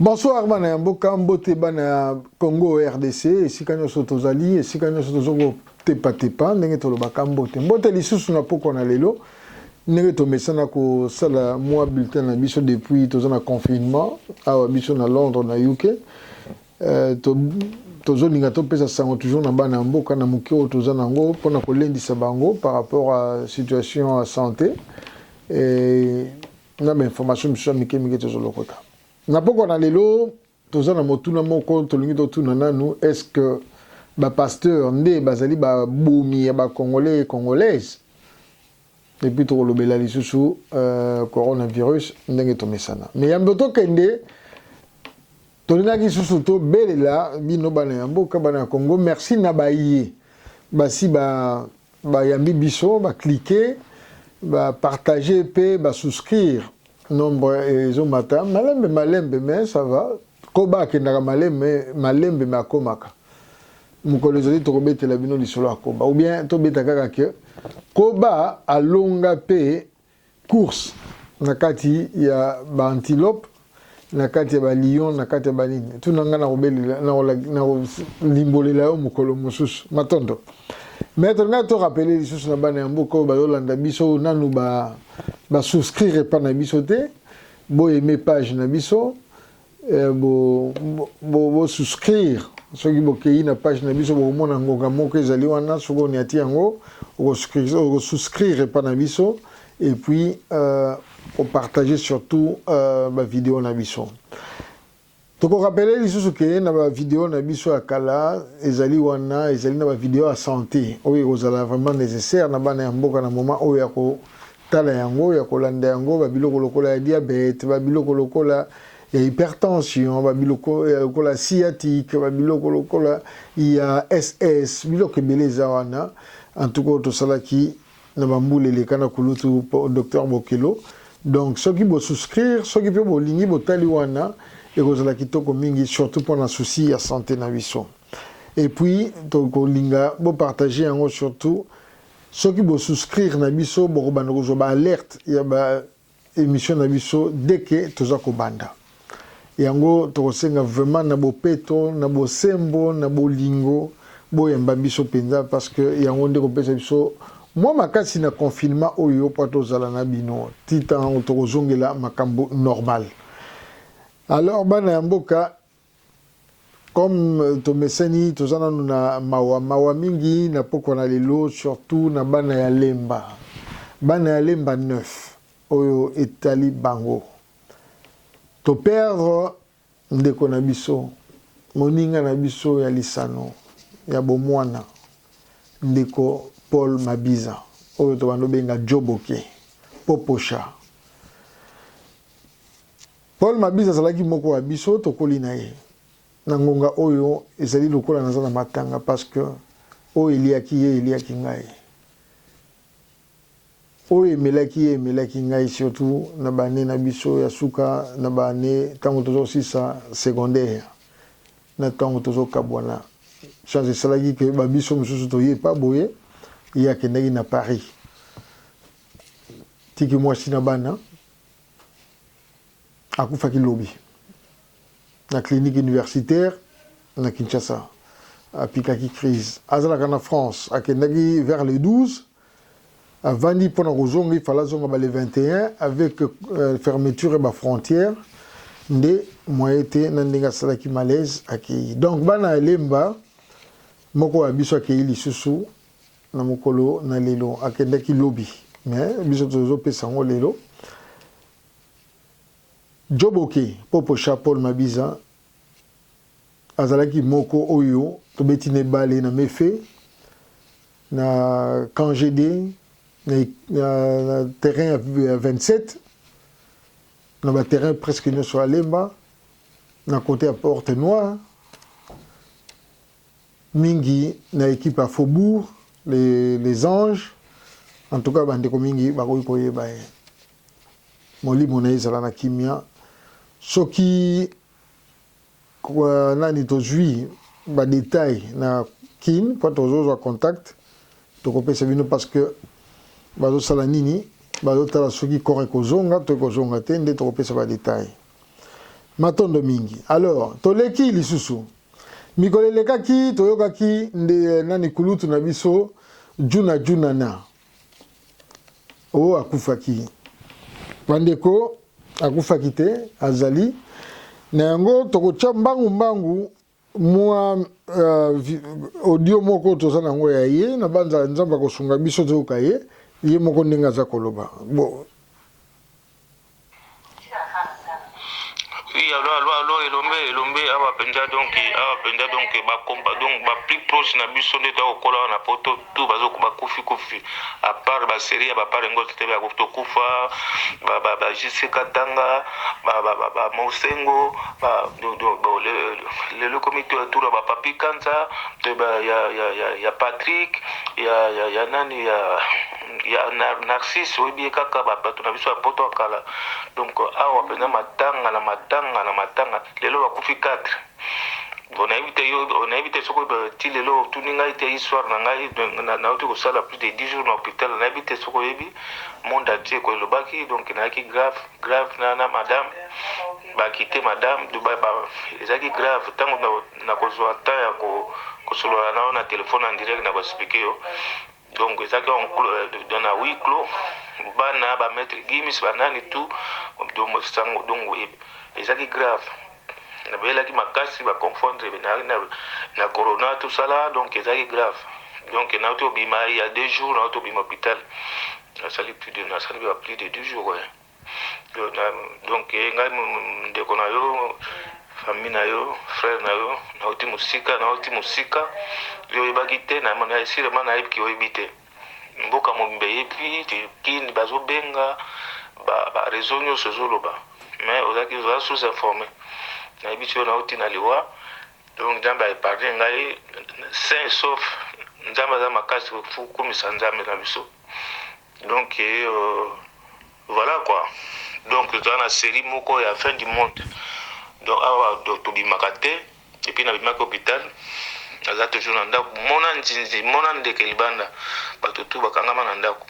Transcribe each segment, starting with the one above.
Bonsoir bana ya mboka mbote bana ya Congo RDC esika nyonso tozali esika nyonso tozoko tepa tepa ndenge tolobaka mbote mbote lisusu na pokwa na lelo ndenge tomesana kosala mwa bulletin na biso depuis toza na confinement awa biso na Londres na UK euh, to tozolinga topesa sango toujours na bana ya mboka na moke oyo toza na yango mpona kolendisa bango par rapport à situation ya santé Et na ba information misusu ya mike mike tozolokota na pokwa na lelo toza na motuna moko tolingi totuna nanu est ce que bapasteur nde bazali babomi ya bacongolais congolaise epuis tokolobela lisusu uh, coronavirus ndenge tomesana me yambo tokende tolingaki lisusu tobelela bino bana ya mboka bana ya congo merci na baye basi ba Bayambi biso ba cliquer, ba partager pe ba souscrire. Nombre ezo mata malembe malembe mais ça va. Koba akendaka malembe malembe mais akomaka. Mokolo ezali tokobetela bino lisolo ya Koba ou bien tobeta kaka que Koba alonga pe course na kati ya ba antilope na kati ya ba lion na kati ya ba nini tuna nga na kobelela na kolimbolela yo mokolo mosusu matondo maître nga to rappeler lisusu na bana ya mboka oyo bazolanda biso nanu ba ba souscrire epa na biso te boyeme page na biso Eh, bo, bo, bo souscrire soki bokei na page na biso bokomona ngonga moko ezali wana soki oniati yango okosouscrire epa na biso et puis euh, opartage surtout euh, bavideo na biso tokorapele lisusu ke na bavideo na biso ya kala ezali wana ezali na bavideo ya santé oyo ekozala vraiment nécessaire na bana ya mboka na moment oyo ya ko Tala yango ya kolanda yango ba biloko lokola ya diabète, ba biloko lokola ya hypertension, ba biloko ya lokola sciatique, ba biloko lokola ya SS, biloko ebele eza wana. En tout cas tosalaki na ba mbula eleka na kulutu Docteur Bokelo. Donc soki bo souscrire, soki pe bolingi botali wana ekozala kitoko mingi surtout pour na souci ya santé na biso. Et puis tokolinga bo partager yango surtout Soki bo souscrire na biso boko banda kozwa ba alerte ya ba emission na biso dès que toza kobanda. Yango toko senga vraiment na bopeto, na bosembo, na bolingo bo yamba biso penza parce que yango nde ko pesa biso mwa makasi na confinement oyo mpo tozala na bino ti tango toko zongela makambo normal. Alors bana ya mboka Comme euh, tomeseni toza nanu na mawa mawa mingi na pokwa na lelo, surtout na bana ya Lemba, bana ya Lemba 9 oyo etali bango. To perdre ndeko na biso, moninga na biso ya lisano ya bomwana, ndeko Paul Mabiza oyo tobando benga Joboke Poposha. Paul Mabiza azalaki moko wa biso tokoli na ye. Na ngonga oyo ezali lokola naza na matanga parce que oyo eliaki ye eliaki ngai. Oyo emelaki ye emelaki ngai surtout na ba annee na biso ya suka na ba annee tango tozo sisa secondaire na tango tozo kabwana. Chance esalaki que ba biso mosusu toye epa boye ye akendaki na Paris. Tiki mwasi na bana. akufaki lobi na clinique universitaire na Kinshasa apikaki crise azalaka na France akendaki vers le 12 avandi mpona kozonga ifala azonga ba le 21 avec euh, fermeture ya bafrontière nde moye te na ndenge asalaki malaise akei donc bana ya lemba moko ya biso akei lisusu na mokolo na lelo akendaki lobi mais biso tozopesa yango lelo joboke poposha paul mabiza azalaki moko oyo tobeti na ebale na mefe na cangd na, na, na terrain ya 27 na baterrain presque nyonso ya lemba na kote ya porte noire mingi na equipe ya Faubourg les, les anges en tout cas bandeko mingi bakoki koyeba ye molimo na ye ezala na kimia soki euh, nani tozwi badetail na kin mpo tozozwa contact tokopesa bino parce que bazosala nini bazotala soki kore ekozonga to ekozonga te nde tokopesa badetail matondo mingi alors toleki lisusu Mikolo elekaki, toyokaki nde eh, nani kulutu na biso Juna Junana o oh, akufaki. Bandeko, akufaki te, azali na yango. Tokotya mbangu mbangu mwa uh, audio moko toza na yango ya ye, na banza Nzambe akosunga biso toyoka ye ye moko ndenge aza koloba bon. Oui allo allo allo elombe elombe awa penza donc awa penza donc ba compa donc ba plus proche na biso nde to kokola awa na poto tout bazo ba kufi kufi à part ba série ya ba part ngo te ba to kufa ba ba ba JC Katanga ba ba ba, ba Mosengo ba do do bo le le, le comité tour ba papi kanza te ba ya ya ya, ya Patrick ya ya ya nani ya ya narcisse oyebi ye kaka bato na biso ya poto ya kala donc awa mpenza matanga na matanga na matanga lelo bakufi 4 onayebi te onayebi te soki ti lelo otuni ngai te histoire na ngai nauti kosala plus de 10 jours na hôpital nayebi te soki oyebi monde entier ko elobaki donc nayaki grave grave na, na madame bakite madame ezalaki grave ntango nakozwa temps ya kosolola na yo na telefone en direct na koexplike yo donc ezalaki en euh, dans na huis clos bana ba maître gimis banani tout sango donc ezalaki grave nabelaki makasi baconfondre na, na, na corona tosala donc ezalaki grave donc nauti obima ya deux jours nauti obima hôpital nasali plus de nasali ba plus de deux jours eh. donc ye ngai ndeko na yo famille na yo frère na yo nauti mosika nauti mosika yo oyebaki te sûrement nayebi ki oyebi te mboka mobimba eyebi kin bazobenga bareseau nyonso ezoloba mais ozalaki oza sous informé nayebi ti yo nauti na liwa donc nzambe aepargne ngai sain sauf nzambe aza makasi kokumisa nzambe na biso Donc voilà quoi donc toza na serie moko ya fin du monde donc awa tobimaka te epuis nabimaki hopital naza toujours na ndako mona nzinzi mona ndeke libanda bato tu bakangama na ndako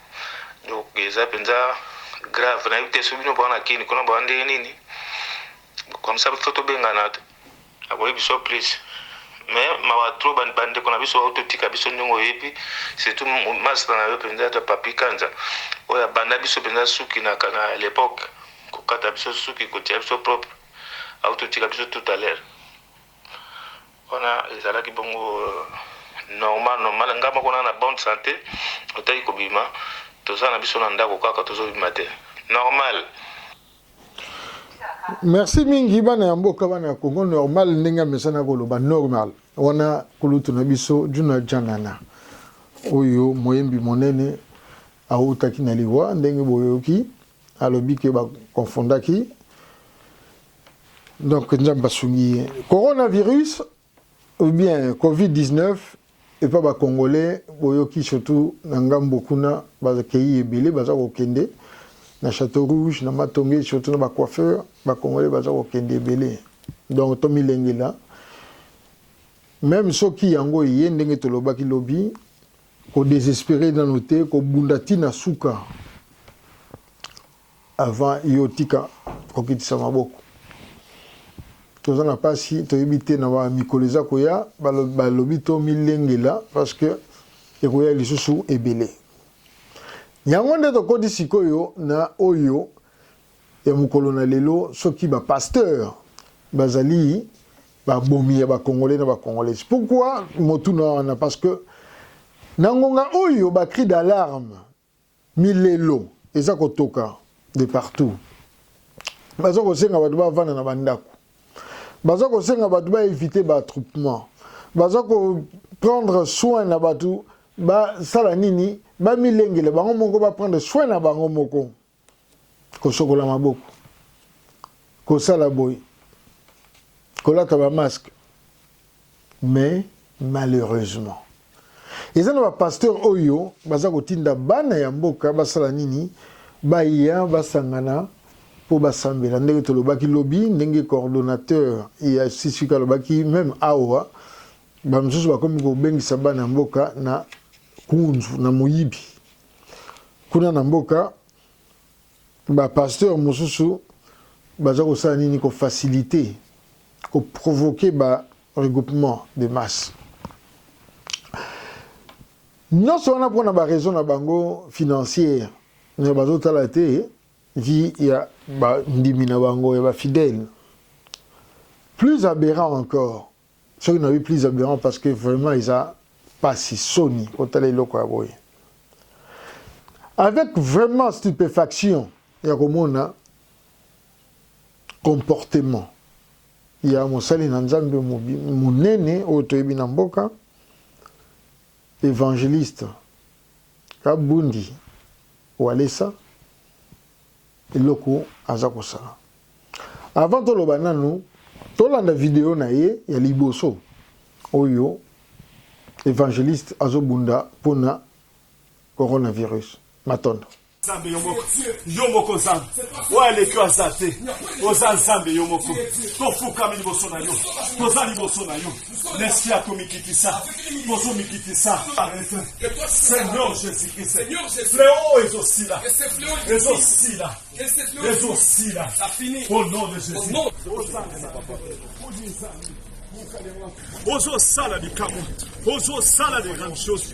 donc eza mpenza grave nayebi te so bino bwana kini kuna baa ndenge nini comme ça biso tobengana Akoki biso plus mais mawa trop ba ndeko na biso ba totika biso ndenge oyebi surtout masta na yo penza ta papi kanza oyo abanda biso penza suki na kana à l'époque kokata biso suki kotia biso propre au totika biso tout à l'heure wana ezalaki bongo euh, normal normal nga moko na bonne santé otaki kobima toza na biso na ndako kaka tozobima te normal merci mingi bana ya mboka bana ya congo normal ndenge amesana koloba normal wana kulutu na biso juna janana oyo moyembi monene awutaki na liwa ndenge boyoki alobi ke bakonfondaki donc nzambe asungi ye coronavirus Ou bien covid 19 epa ba congolais boyoki surtout na ngambo kuna ba keyi ebele baza ko kende na chateau rouge na matonge surtout na ba coiffeur ba congolais baza ko kende ebele donc to milengela meme soki yango eye ndenge tolobaki lobi ko desespere nanu te ko bunda ti na suka Avant yo tika kokitisa maboko. Toza na pasi toyebi te na ba mikolo eza koya balobi to milengela parce que ekoya lisusu ebele. Yango nde tokoti sikoyo na oyo ya mokolo na lelo soki ba pasteur bazali babomi ya bakongole na bakongolais pourkui motuna wana parce que na ngonga oyo bacri d'alarme Milelo eza kotoka de partout. Baza kosenga bato bavanda na bandako. Baza kosenga bato ba eviter ba attroupements. Baza ko prendre soin na bato basala nini? Bamilengela bango moko, ba prendre soin na bango moko. kosokola maboko kosala boye kolata ba masque mais malheureusement eza na bapasteur oyo baza kotinda bana ya mboka basala nini baya basangana mpo basambela ndenge tolobaki lobi ndenge coordonnateur ya ccq alobaki meme awa bamosusu bakomi kobengisa bana ya mboka na kunzu na moyibi Kuna na mboka ba pasteur mosusu baza kosala nini ko faciliter ko provoquer ba regroupement de masse nyonso wana mpona ba raison na bango financière mais bazotala te vie ya bandimi na bango ya bafidèle plus aberrant encore soki na lobi plus aberrant parce que vraiment eza pasi soni otala eloko ya boye avec vraiment stupéfaction ya komona comportement ya mosali na nzambe monene oyo toyebi na mboka evangeliste kabundi walesa eloko aza kosala avant toloba nanu tolanda video na ye ya liboso oyo evangeliste azobunda mpona coronavirus matondo nzambe yo moko yo moko nzambe oyo aleki aza te oza nzambe yo moko tofukami liboso na yo toza liboso na yo L'esprit a komikitisa. Tozo mikitisa. Seigneur Jésus-Christ. Fléau ezo sila. Ezo sila. Ezo sila. Au nom de Jésus. Ozo sala likambo. Ozo sala de grandes choses.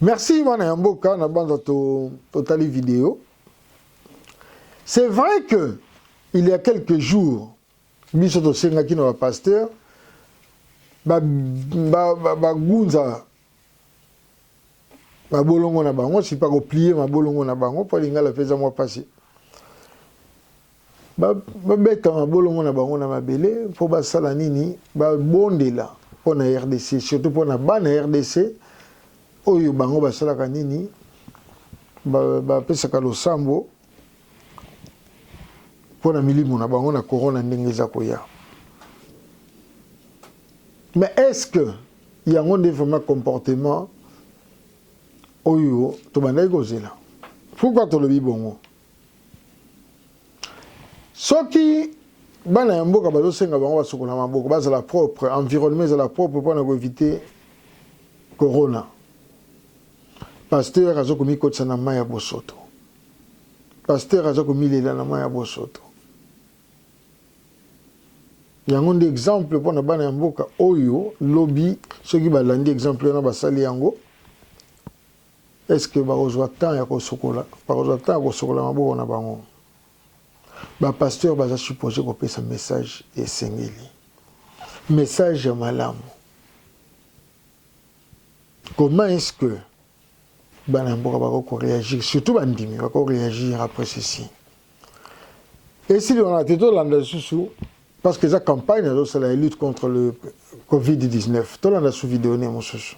Merci wana ya mboka na banza totali video. C'est vrai que il y a quelques jours Biso tosengaki na ba pasteurs ba bagunza ba, ba mabolongo na bango sipa koplie mabolongo na bango mpo lingala mpe eza mwa mpasi babeta mabolongo na bango na mabele mpo basala nini babondela mpo na rdc surtout mpo na bana rdc oyo bango basalaka nini bapesaka losambo mpo na milimo na bango na corona ndenge eza koya mais est-ce que yango nde vraiment comportement oyo tobandaki kozela pourquoi tolobi bongo soki bana ya mboka bazosenga bango basokola maboko bazala propre environnement ezala propre mpo na koevite corona Pasteur aza komikotisa na mayi ya bosoto. Pasteur aza komilela na mayi ya bosoto. Yango nde exemple mpo na bana ya mboka oyo lobi soki balandi exemple wana basali yango est-ce que bakozwa temps ya kosokola bakozwa temps ya kosokola maboko na bango bapasteur baza suppose kopesa message esengeli message ya malamu Comment est-ce que bana ya mboka bakoki ko reagir surtout bandimi bako reagir après ceci esili wana te tolanda lisusu parce que eza campagne azosala ya lutte contre le covid-19 tolanda su video ne mosusu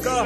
Car,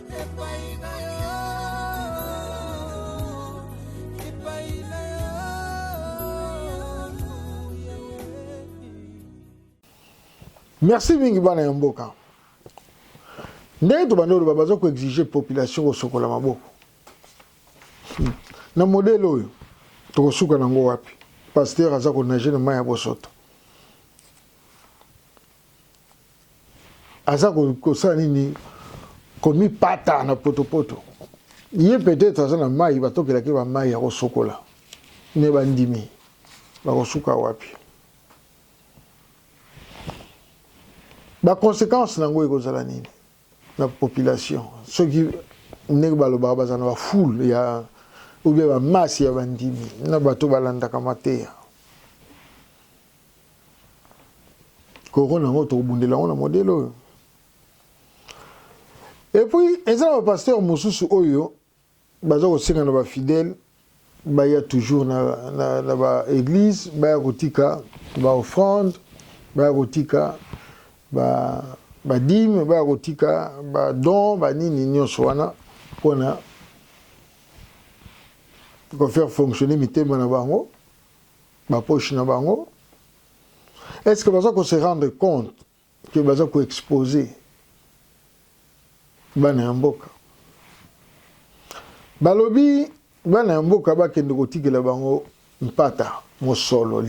merci mingi bana ya mboka ndenge tobandi oloba baza koexige population kosokola maboko hmm. na modele oyo tokosuka nango wapi pasteur aza konage na mai ya bosoto aza kosala nini komipata na potopoto ye peut-être aza na mai batokelaki ba mai ya kosokola me bandimi bakosuka wapi baconséquence na yango ekozala nini na population soki ndenge balobaka baza na bafoule ya oubien bamasse ya bandimi na bato balandaka mateya Corona yango tokobundela yango na modele oyo. Epuis eza na bapasteur mosusu oyo baza kosenga na bafidèle baya toujours na, na, na baeglise baya kotika baoffrande baya kotika ba badime baya kotika badon banini nyonso wana mpo na kofaire fonctionner mitema na bango ba poche na bango est ce que baza ko se rendre compte que baza ko exposer bana ya mboka balobi bana ya mboka bakende kotikela bango mpata mosolo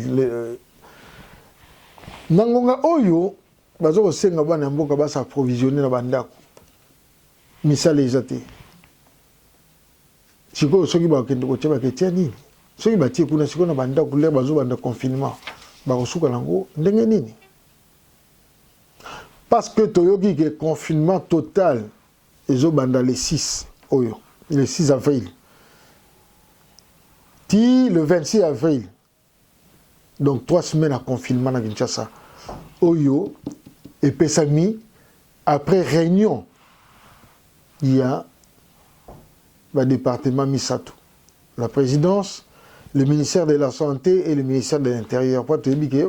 na ngonga oyo baza kosenga bana ya mboka basa approvisionne na bandako misala eza te sikoyo soki bakende kotia baketia nini soki batie kuna sikoyo na bandako lere bazobanda confinement bakosuka nango ndenge nini parce que toyoki ke confinement total ezobanda le 6 oyo le 6 avril ti le 26 avril Donc trois semaines ya confinement na Kinshasa oyo epesami après réunion ya badepartement misato la présidence le ministère de la santé et le ministère de l'intérieur mpo toyebi ke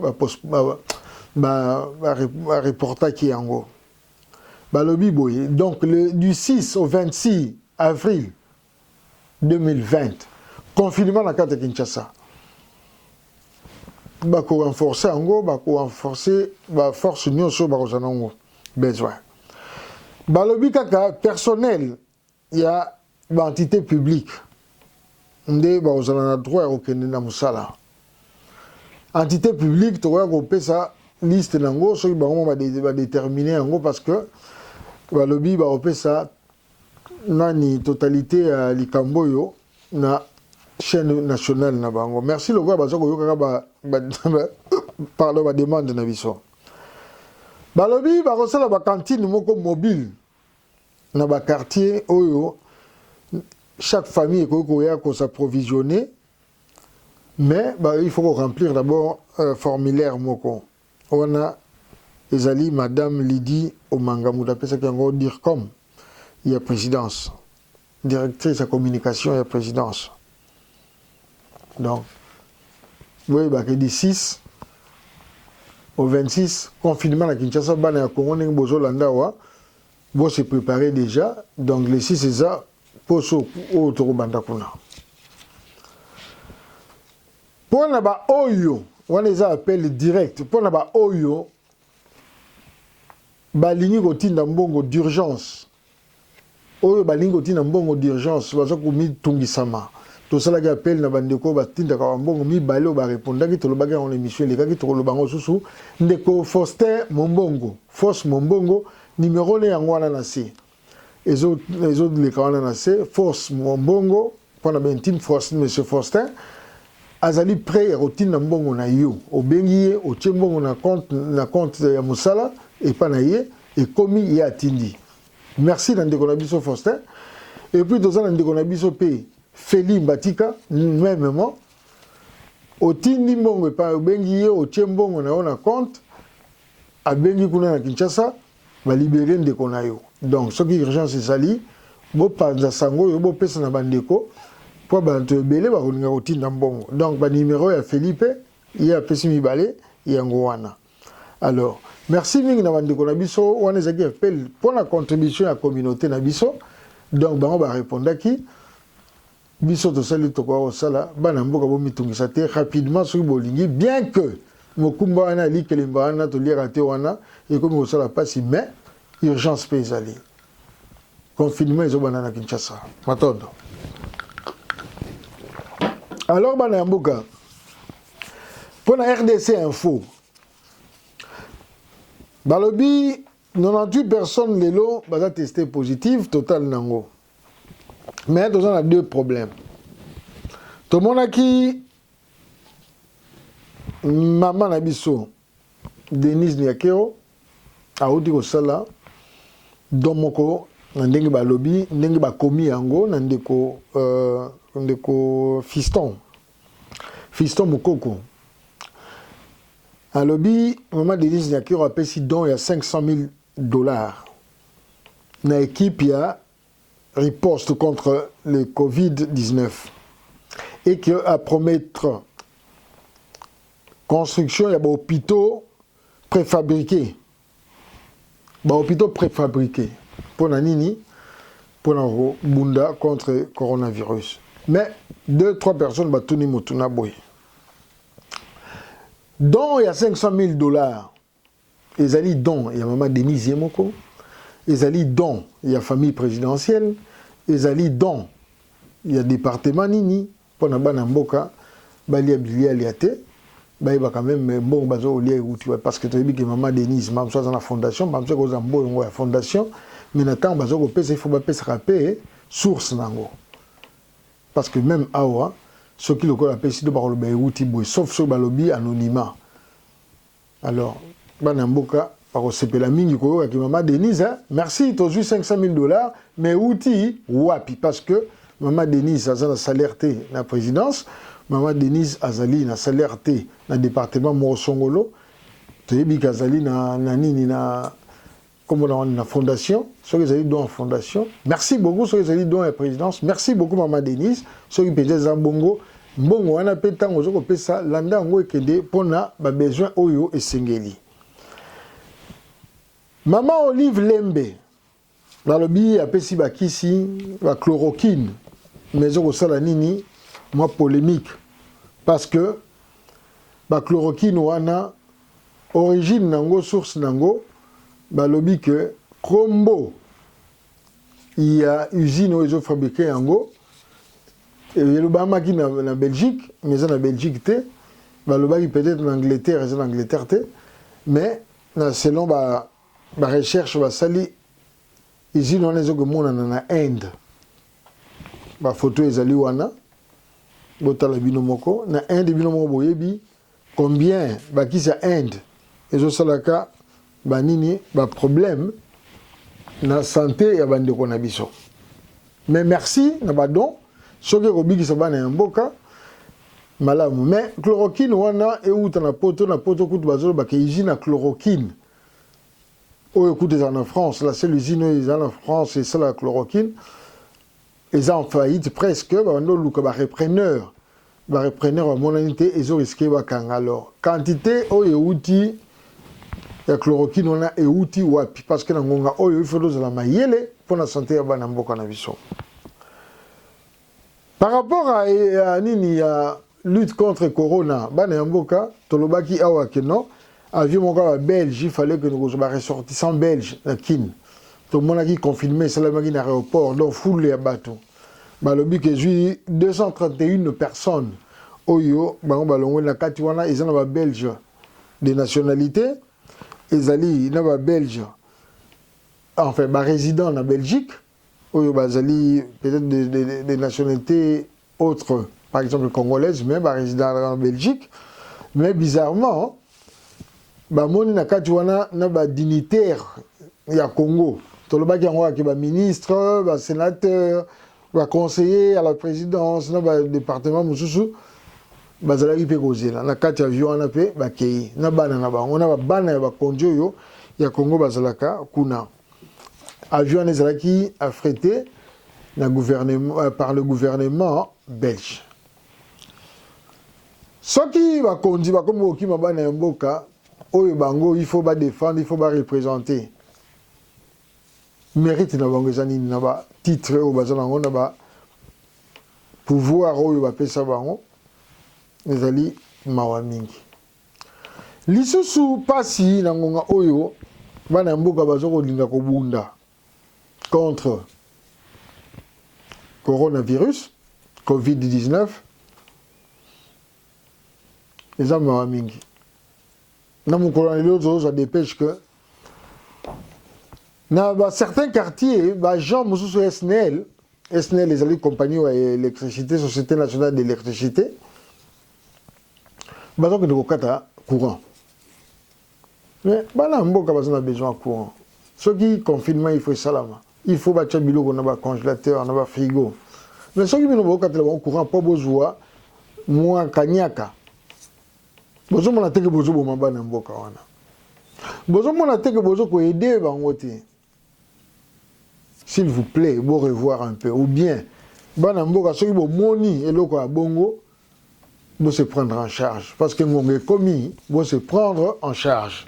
bareportaki yango balobi boye donc le, du 6 au 26 avril 2020 confinement na kati ya Kinshasa bako renforcer yango bako renforcer ba force nyonso bakozala nango besoin balobi kaka personnel ya ba entité publique nde bakozala na droit ya kokende na mosala entité publique tokoya kopesa liste na yango soki bango badetermine yango parce que balobi bakopesa nani totalite ya likambo oyo na chaine nationale na bango merci lokola baza koyokaka ba, ba, ba, pardon ba demande na biso balobi bakosala ba cantine moko mobile na ba quartier oyo chaque famille ekoki koya ko s'approvisionner mais ba, il faut ko remplir d'abord euh, formulaire moko Wana ezali Madame Lydie Omanga moto apesaki yango DIRCOM ya presidence, Directrice ya communication ya presidence. Donc, boyeba ke du 6 au 26 confinement na Kinshasa, bana ya Congo ndenge bozo landa awa, bo se preparer dejà, donc le 6 eza poso oyo toko banda kuna. Mpo na ba oyo wana eza appel direct mpo na ba oyo balingi kotinda mbongo d'urgence oyo balingi kotinda mbongo d'urgence baza komitungisama tosalaki appel na bandeko oyo batindaka bambongo mibale oyo barepondaki tolobaki yango na émission elekaki tokoloba yango susu ndeko faustin mombongo fausse mombongo nimero ne yango wana na se ezo ezo leka wana na se force mbongo pona ben team force monsieur Faustin azali prêt ya kotinda mbongo na yo obengi ye otie mbongo na compte na compte ya mosala epa na ye ekomi ye atindi merci na ndeko na biso Faustin et puis toza na ndeko na biso pe Feli Mbatika memement otindi mbongo epa obengi ye otie mbongo na yo na compte abengi kuna na Kinshasa Ba liberer ndeko na yo. Donc soki urgence ezali, bo panza sango oyo bo pesa na ba ndeko po banto ebele ba kolinga ko tinda mbongo. Donc ba numero ya Felipe ye apesi mibale yango wana. Alors merci mingi na ba ndeko na biso, wana ezalaki appel pona contribution ya communaute na biso. Donc bango ba repondaki. Biso tosali tokoka kosala bana mboka bomitungisa te rapidement soki bolingi bien que mokumba wana ya likelemba wana toliaka te wana ekomi kosala pasi mais urgence mpe ezali confinement ezobanda na Kinshasa matondo alors bana ya mboka mpo na rdc info balobi 98 personnes lelo baza teste positive total nango mais toza na deux problèmes tomonaki mama na biso denise niakeo awuti kosala don moko na ndenge balobi ndenge bakomi yango na ndeko euh, ndeko fiston fiston mokoko alobi mama denise niakero apesi don ya 500 000 dollars na equipe ya riposte contre le Covid-19 et que a promettre construction ya ba hôpitaux préfabriqués ba hôpitaux préfabriqués mpo na nini mpo na kobunda contre coronavirus mais deux trois personnes batuni motuna boye don ya 500 000 dollars Ezali don ya mama Denise ye moko, ezali don ya famille presidentielle, ezali don ya departement nini mpo na bana mboka balia bilialia te, bayebaka meme mbongo baza kolia ewuti wapi parce que toyebi ke mama Denise mbala mosusu aza na fondation, mbala mosusu akoki kozala mbongo ya fondation mais na tango baza kopesa il faut bapesaka mpe source na yango parce que meme awa soki lokola apesi to bakoloba ewuti boye sauf soki balobi anonymat. Alors bana mboka bakosepela mingi koyoka ki mama Denise hein? Merci tozwi 500 000 dollars mais euti wapi parce que mama Denise aza na salaire te na présidence mama Denise azali na salaire te na département moko songolo toyebi ke azali na, na nini na Kombo na wana na fondation soki ezali don ya fondation merci beaucoup soki ezali don ya présidence merci beaucoup maman Denise soki mpenza eza bongo mbongo wana mpe ntango ozo kopesa landa yango ekende mpo na babesoin oyo esengeli mama olive lembe balobi apesi bakisi bachloroquine mais ezokosala nini mwa polémique parce que bachloroquine wana Origine nango source nango balobi que kombo ya usine oyo ezo fabriquer yango elobamaki na, na Belgique mais eza na Belgique te balobaki peut-être na Angleterre eza na Angleterre te mais na selon ba ba recherche basali usine wana ezo komonana na Inde ba photo ezali wana botala bino moko na Inde bino moko boyebi Combien ba kisi ya Inde ezo salaka ba nini ba problème na sante ya ba ndeko na biso. Mais merci na ba don soki ekobikisa bana ya mboka malamu mais chloroquine wana euta na poto na poto kutu bazoloba ke usine ya chloroquine oyo kutu ezala na france la seule usine oyo ezala na france esala ya chloroquine eza en faillite presque babandi oluka ba repreneur ba repreneur bamonani te ezo risque bakanga alors quantité oyo euti ya chloroquine wana euti wapi parce que na ngonga oyo il faut tozala mayele mpo na sante ya bana mboka na biso par rapport à, à nini ya lutte contre corona bana ya mboka tolobaki awa ke non avion moko ya babelge il fallait okende kozwa baressortissant belge na kin tomonaki confirme esalamaki na aéroport donc foule ya bato balobi ke ezwi 231 personnes oyo bango balongwe na kati wana eza na babelge de nationalité ezali na babelge enfin barésident na belgique oyo bazali peut-être des de, de, de nationalités autres, par exemple congolaise, mais ba résident en Belgique. Mais bizarrement, bamoni na kati wana na ba dignitaire ya Congo. Tolobaki yango ke ba ministre, ba sénateur, ba conseiller à la présidence na ba département mosusu bazalaki mpe kozela na kati ya avion wana mpe bakei na bana na bango na babana ya bakonzi oyo ya Congo bazalaka kuna. Avion wana ezalaki affrété na gouvernement, euh, par le gouvernement belge. Soki bakonzi bakomi kokima bana ya mboka oyo bango il faut badefendre, il faut barepresente mérite na bango eza nini na batitre oyo baza nango na ba pouvoir oyo bapesa bango ezali mawa mingi. Lisusu pasi na ngonga oyo bana ya mboka bazo kolinga kobunda contre coronavirus covid-19 eza mawa mingi na mokolo na lelo tozozwa dépêche que na ba certains quartiers ba gens mosusu ya SNEL SNEL ezali compagnie ya électricité société nationale d'électricité baza kende kokata courant mais bana ya mboka baza na besoin ya courant soki confinement il faut esalama il faut batya biloko na bacongélateur na bafrigo mais soki bino bokatela bango courant mpo bozwa mwa kaniaka bozomona teke bozoboma bana ya mboka wana bozomona teke bozokoede bango te S'il vous plait, bo revoir un peu ou bien bana mboka soki bomoni eloko ya bongo bo se prendre en charge parce que ngonga ekomi bo se prendre en charge.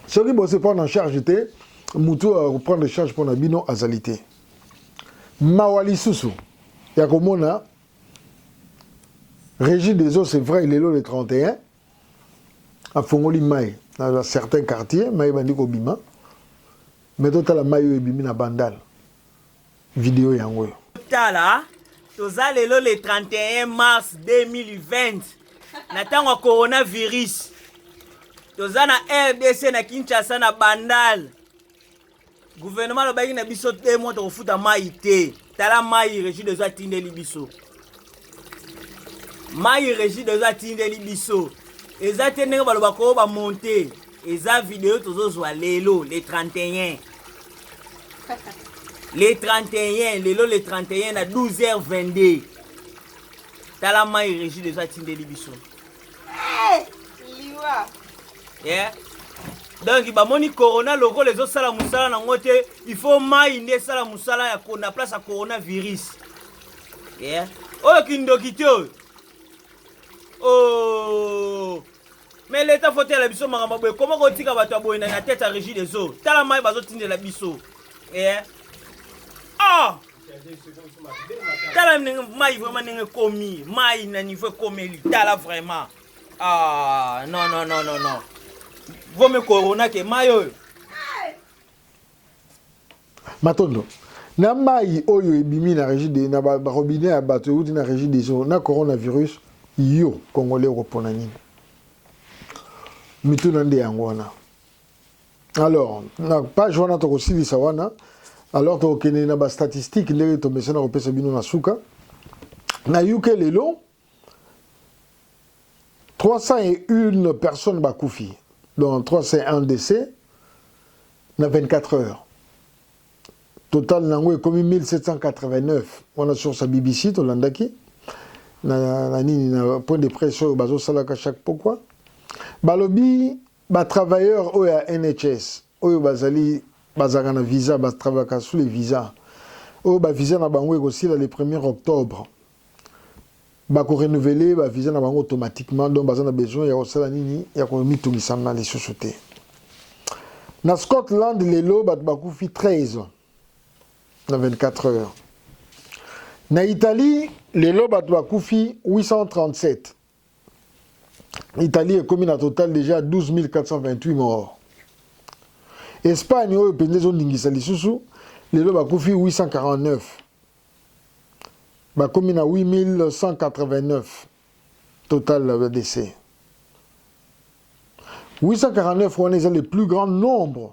Soki bo se prendre en charge te mutu ya prendre charge pona bino azali te. Mawa lisusu ya komona Régis Deso c'est vrai lelo le 31 afongoli mai na ba certain quartier mai ebandi kobima me totala mai oyo ebimi na bandal video yango oyo tala toza lelo le 31 mars 2020 na ntango ya coronavirus toza na rdc na kinshasa na bandal Gouvernement alobaki na biso te mwa tokofuta mai te. Tala mai Regi dezo atindeli biso. Mai Regi dezo atindeli biso. Eza te ndenge baloba ko ba monter. Eza video tozozwa lelo le 31. Le 31 lelo le 31 na 12h22. Tala mai Regi dezo atindeli biso. Eh, liwa. Yeah. donc bamoni corona lokola ezosala mosala nango te il faut mai nde esala mosala ya na place ya coronavirus yeah. oyo kindoki te oyo oh. mais leta fotela biso makambo boye koma kotika bato ya boye na tete ya régie des eaux tala mai bazotindela biso yeah. oh. tala ndenge mai vraiment ndenge ekomi mai na niveau ekomeli tala vraiment ah non non non non non vomi corona ke mai oyo matondo na mai oyo ebimi na régie de na barobine ya bato euti na régie des eaux na coronavirus yo congolais okopona nini mituna nde yango wana alors na page wana tokosilisa wana alors tokokende na bastatistique ndenge tomesana kopesa bino na suka na uk lelo 301 personnes bakufi donc 301 décès na 24 heures total na yango ekomi 1789 wana source ya bbc tolandaki na, na nini na point de presse oyo bazosalaka chaque pokwa balobi Ba travailleurs oyo ya NHS oyo bazali bazalaka na visa ba travaillaka sous les visas oyo ba visa na bango ekosila le premier octobre bako renouveler ba visa na bango automatiquement donc baza na besoin ya kosala nini ya komitungisa na lisusu te na Scotland lelo bato bakufi 13 na 24 heures na Italie lelo bato bakufi 837 Italie ekomi na total deja 12428 morts. Espagne oyo mpenza ezoningisa lisusu lelo bakufi 849 bakomi na 8189 total ya décès 849 wana eza le plus grand nombre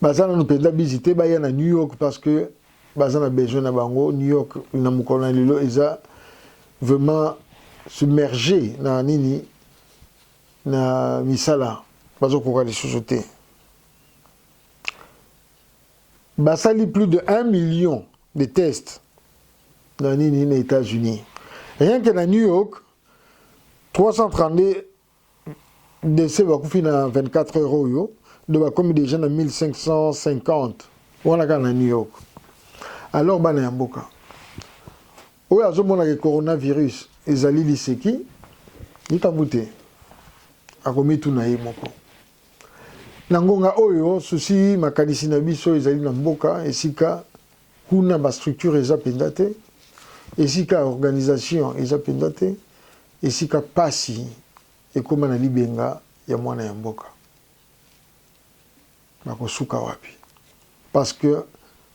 baza nanu mpenza bizi te baya na new york parce que baza na besoin na bango new york na mokolo na lelo eza vraiment submerge na nini na misala bazokoka lisusu te basali plus de 1 million de tests na nini na états-unis rien que na new york 332 Dese bakufi na 24 heures oyo do bakomi deja na 1550 wana kaka na New York. Alors bana ya mboka oyo azomona ke coronavirus ezali liseki, likambo te, akomituna ye moko. Na ngonga oyo susi makanisi na biso ezali na mboka esika Kuna ba structures eza mpenza te, esika ya organisation eza mpenza te, esika mpasi ekoma na libenga ya mwana ya mboka. Bakosuka wapi? Parce que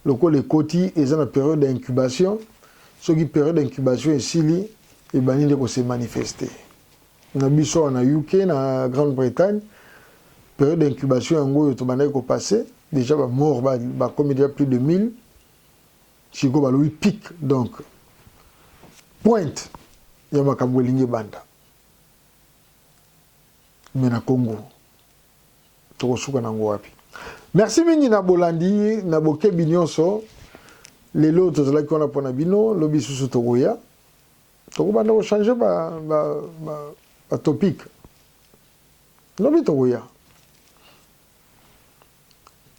lokola ekoti eza na periode ya incubation, soki periode ya incubation esili, ebandi nde ko se manifester. Na biso awa na UK, na Grande Bretagne, periode ya incubation yango oyo tobandaki ko passer, dejà ba morts bakomi dejà plus de 1000, sikoyo balobi pic, donc pointe ya makambo elingi ebanda. Mais na Congo, tokosuka nango wapi? Merci mingi na bolandi, na bokebi nyonso. Lelo tozalaki wana mpo na bino, lobi susu tokoya. Tokobanda ko changer ba, ba, ba, ba topic. Lobi tokoya.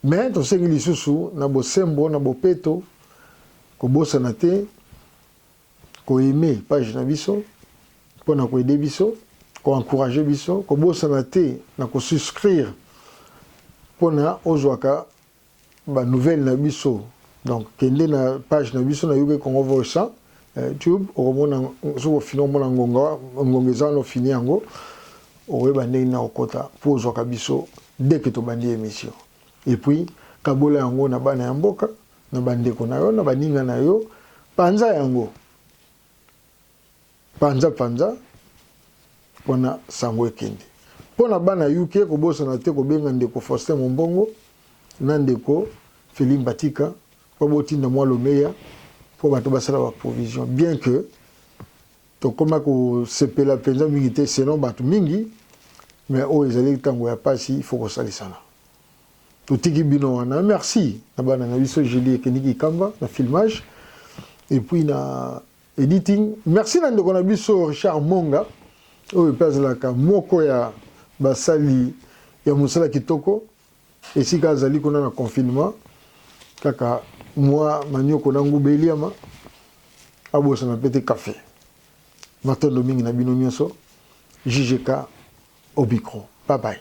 Mais tosengi lisusu na bosembo na bopeto kobosana te koyeme page na biso mpo na koede biso koencourage biso kobosana te na kosuscrire mpo na ozwaka ba nouvelles na biso donc kende na page na biso na UK Congo Voice eh, tube okomona soki ofini omona ngonga ngonga eza wana ofini yango okoyeba ndenge na kokota mpo ozwaka biso dès que tobandi émission et puis kabola yango na bana ya mboka na bandeko na yo na baninga na yo panza yango Panza panza wana sango ekende. Mpo na bana ya UK, kobosana te kobenga ndeko Faustin Mombongo na ndeko Feli Mbatika mpo botinda mwa lomeya mpo bato basala ba provision bien que tokoma kosepela mpenza mingi te selon bato mingi mais oyo ezali ntango ya mpasi ifo kosalisana totiki bino wana merci na bana na biso julie ekeniki kamba na filmage epuis na Editing. Merci na ndeko na biso Richard Monga oyo pe azalaka moko ya basali ya mosala kitoko esika azali kuna na confinement kaka mwa manioko na nguba eliama abosana pe te kafe matondo mingi na bino nyonso JJK au micro bye bye